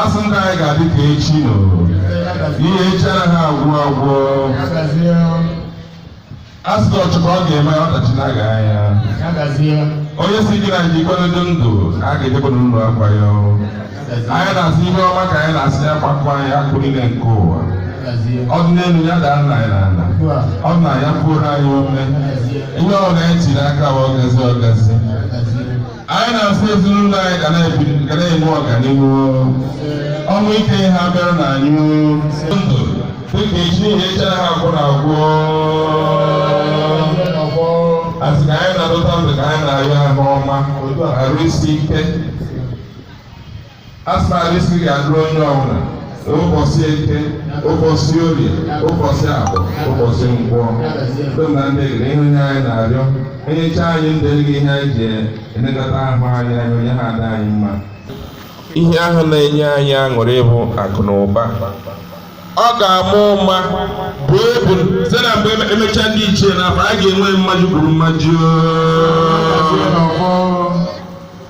asị ndụ anyị ga-adị ka echi n'ihi echi anaghị agwụ agwụ asị na ọchụkọ ọ ga-eme ọdachi na-aga anya onye si gị na anyị ikwere dị ndụ a ga-ejekwa n'ụlọ akwa ya anyị na-asị ihe ọma ka anyị na-asị ya gbakwuo anyị akụ niile nke ụwa ọ dị n'elu ya daara anyị n'ala ọ dị n'ala ya puoro anyị ome ihe ọbụla anyị tiri aka wa ọgazi ọgazi anyị na-asị ezinụlọ anyị ga na-ebi ga na-enwe ọganihu ọnwụ ike abịarana anyị ndụ dịka echi n'ihi echi anaghị agwụ agwụ asị ka anyị na-adọta ndụ ka anyị na-arịọ ahụ ọma arụ isi ike asị na arụ isi ike ga-adịrị onye ọbụla ụbọchị eke ụbọchị orie ụbọchị afọ ụbọchị nkwọ dona ndị gere ihe onye anyị na-arịọ enyecha anyị ndụ gị ihe anyị ji elekọta ahụ anyị anya onye ha ada anyị mma ihe ahụ na-enye anyị aṅụrị bụ akụ na ụba ọ ga-ama ụma bụ ebu site na mgbe emecha ndị ichie na afọ a ga-enwe mmaji kwuru mmaji